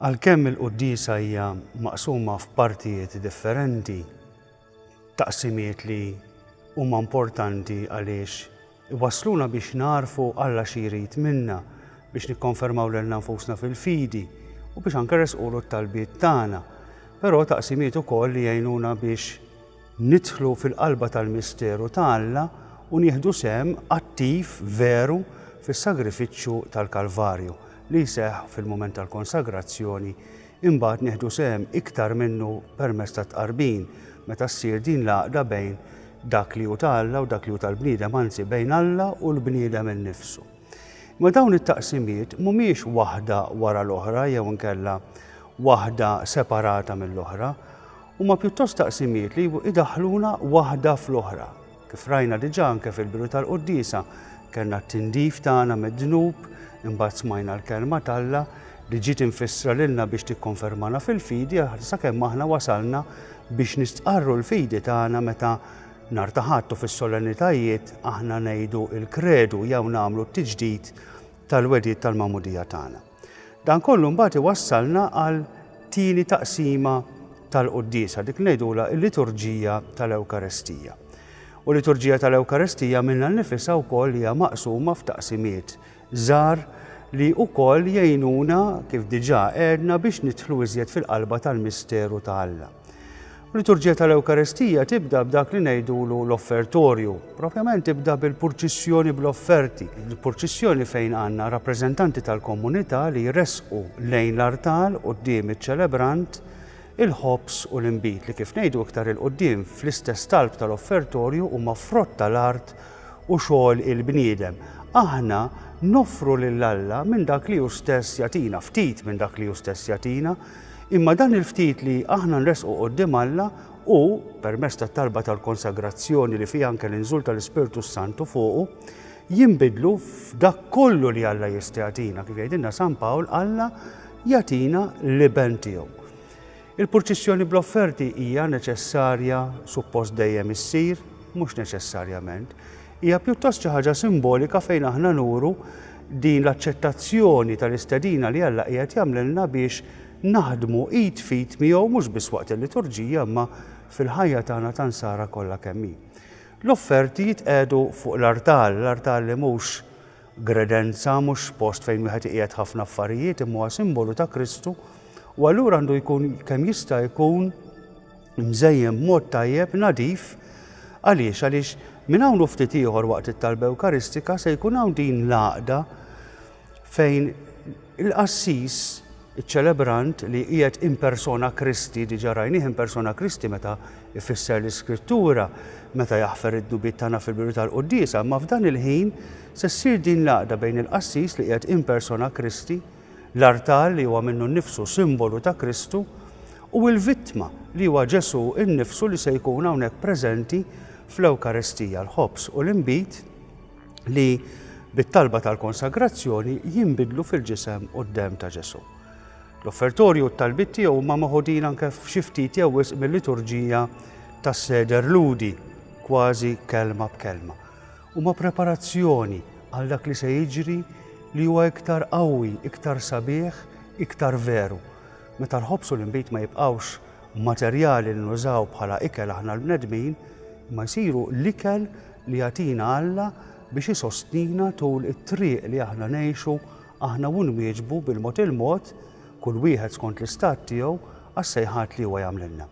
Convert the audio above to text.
Għalkemm il-quddiesa hija maqsuma f'partijiet differenti, taqsimiet li huma importanti għaliex Iwassluna biex nagħrfu Alla xi jrid minna, biex nikkonfermaw lilna nfusna fil-fidi, u biex anke nressqulu t-talbiet tagħna. Però taqsimiet ukoll li jgħinuna biex nidħlu fil-qalba tal-misteru ta' Alla u nieħdu sehem attiv veru fis-sagrifiċċju tal-Kalvarju, li jseħħ fil-mument tal-konsagrazzjoni Imbagħad nieħdu sehem iktar minnu permezz tat-tqarbin, meta ssir din l-għaqda bejn dak li hu ta' Alla u dak li hu tal-bniedem, anzi bejn Alla u l-bniedem innifsu. Imma dawn it-taqsimiet mhumiex waħda wara l-oħra jew inkella waħda separata mill-oħra, huma pjuttost taqsimiet li idaħħluna waħda fl-oħra. Kif rajna diġà anke fil-bidu tal-quddiesa, kellna t-tindif tagħna mid-dnub, imbagħad smajna l-Kelma t'Alla li ġiet imfissra lilna biex tikkonfermana fil-fidi sakemm aħna wasalna biex nistqarru l-fidi tagħna meta Nhar ta' Ħadd u fis-solennitajiet aħna ngħidu l-Kredu jew nagħmlu t-tiġdid tal-wegħdiet tal-magħmudija tagħna. Dan kollu mbagħad iwassalna għal tieni taqsima tal-quddiesa, dik ngħidulha l-liturġija tal-Ewkaristija. U l-liturġija tal-Ewkaristija minnha nnifisha wkoll hija maqsuma f'taqsimiet żgħar li wkoll jgħinuna kif diġà għedna biex nidħlu iżjed fil-qalba tal-misteru ta' Alla. U liturġija tal-Ewkaristija tibda b'dak li ngħidulu l-offertorju. Propjament tibda bil-purċissjoni bl-offerti. Il-purċissjoni fejn għandna rappreżentanti tal-komunità li jressqu lejn l-artal quddiem iċ-ċelebrant il-ħobż u l-inbid li kif ngħidu iktar il quddiem fl-istess talb tal-offertorju huma frott tal-art u xogħol il-bniedem. Aħna noffru lil Alla minn dak li hu stess jagħtina, ftit minn dak li hu stess jagħtina, Imma dan il-ftit li aħna nressqu quddiem Alla hu, permezz tat-talba tal-konsagrazzjoni li fiha anke l-inżul tal-Ispirtu s-Santu fuqu, jinbidlu f'dak kollu li Alla jista' jagħtina. Kif jgħidilna San Pawl, Alla jagħtina l-Iben tiegħu. Il-purċissjoni bl-offerti hija neċessarja, suppost dejjem issir, mhux neċessarjament, Hija pjuttost xi ħaġa simbolika fejn aħna nuru din l-aċċettazzjoni tal-istedina li Alla qiegħed jagħmlilna biex naħdmu id f'id miegħu mhux biss waqt il-liturġija imma fil-ħajja tagħna ta' nsara kollha kemm hi. L-offerti jitqiegħdu fuq l-artal, l-artal li mhux gredenza, mhux post fejn wieħed iqiegħed ħafna affarijiet imma huwa simbolu ta' Kristu u allura għandu jkun kemm jista' jkun mżejjen b'mod tajjeb, nadif. Għaliex? Għaliex minn hawn u ftit ieħor waqt it-talba Ewkaristika se jkun hawn din l-għaqda fejn il-qassis, iċ-ċelebrant li qiegħed in persona Kristi, diġà rajnih in persona Kristi meta jfisser l-Iskrittura, meta jaħfer id-dubiet tagħna fil-biru tal-quddiesa, imma f'dan il-ħin se ssir din l-għaqda bejn il-qassis li qiegħed in persona Kristi l-artal li huwa minnu nnifsu simbolu ta' Kristu, u l-vittma li huwa Ġesù nnifsu li se jkun hawnhekk preżenti fl-Ewkaristija, l-ħobż u l-inbid li bit-talba tal-konsagrazzjoni jinbidlu fil-ġisem u d-demm ta' Ġesù. L-offertorju u t-talbiet tiegħu huma maħudin anke f'xi ftit jew wisq mil-liturġija tas-seder Lhudi, kważi kelma b'kelma. Huma preparazzjoni għal dak li se jiġri li huwa iktar qawwi, iktar sabiħ, iktar veru. Meta l-ħobż u l-inbid ma jibqgħux materjali li nużaw bħala ikel aħna l-bnedmin, imma jsiru l-ikel li jagħtina Alla biex isostnina tul it-triq li aħna ngħixu aħna u nwieġbu bil-mod il-mod, kull wieħed skont l-istat tiegħu, għas-sejħat li huwa jagħmlilna.